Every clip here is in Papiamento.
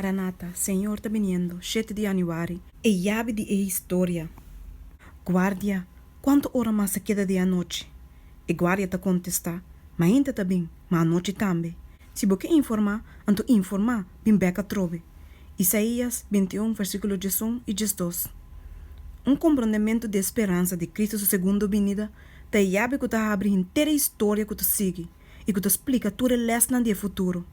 Maranata, Señor ta biniendo, shete di Januari. E yabi di e historia. Guardia, Cuanto ora mas ta keda di anochi? E guardia ta contesta, Mainta ta bin, ma anochi tambe. Si bo ke informa, anto informa, bin bek atrobe. Isaías bintiun versiculo diesun i diesdos. Un comprondemento di e speransa di Cristo su segundo binida ta e yabi cu ta habri henter e historia cu ta sigui. i ku ta splika tur e lèsnan di e futuro.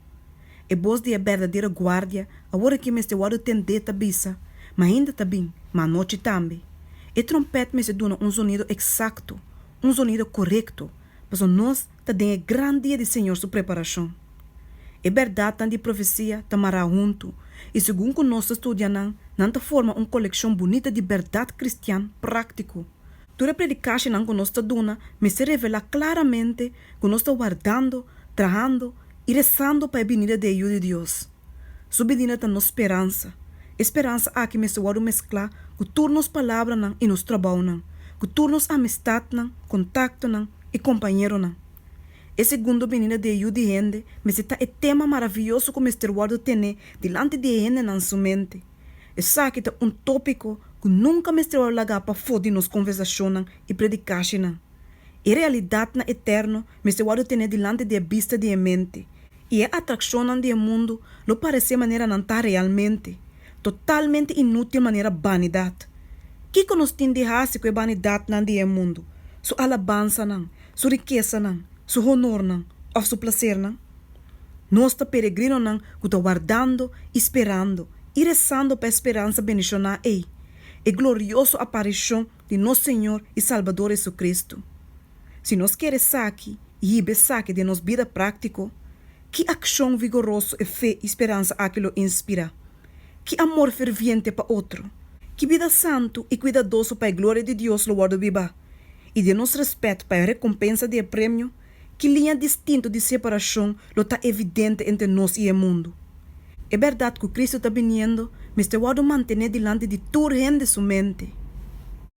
E bos di e berdadera guardia aworakí mester wòrdu tendé ta bisa, Mainda ta bin, ma anochi tambe. E trompèt mester duna un zonido eksakto, un zonido korekto, pasobra nos ta den e gran dia di Señor su preparashon. E bèrdatnan di profesia ta mará huntu, i segun ku nos ta studia nan, nan ta forma un kolekshon bunita di bèrdat kristian práktiko. Tur e predikashinan ku nos ta duna mester revelá klaramente ku nos ta wardando, trahando i resando pa e binida di e Yu di Dios. Su binida ta nos speransa. E speransa aki mester wòrdu mesklá ku tur nos palabranan i nos tròbounan, ku tur nos amistatnan, kontaktonan i kompañeronan. E segundo binida di e Yu di hende mester ta e tema maravioso ku mester wòrdu tené dilanti di e hendenan su mente. Esaki ta un tópiko ku nunka mester wòrdu lagá pafó di nos konversashonnan i predikashinan. E realidatnan eterno mester wòrdu tené dilanti di e bista di e mente, i e atrakshonnan di e mundu lo paresé manera nan ta realmente, totalmente inútil manera banidat. Kiko nos tin di hasi ku e banidatnan di e mundu, su alabansanan, su rikesanan, su honornan òf su plasernan? Nos ta peregrinonan cu ta wardando y sperando y rezando pa e speransa bendishoná ei, e glorioso aparicion di nos Señor y Salbador Jesucristo. Si nos kier esaki y hiba esaki den nos bida práctico, ki accion vigoroso e fe y speransa aki lo inspirá? Ki amor ferviente pa otro? Ki bida santu y cuidadoso pa e gloria di Dios lo wòrdu bibá? Y den nos respet pa e recompensa di e premio, ki liña distintu di separashon lo ta evidente entre nos i e mundu. E bèrdat ku Kristu ta biniendo mester wòrdu mantené dilanti di tur hende su mente.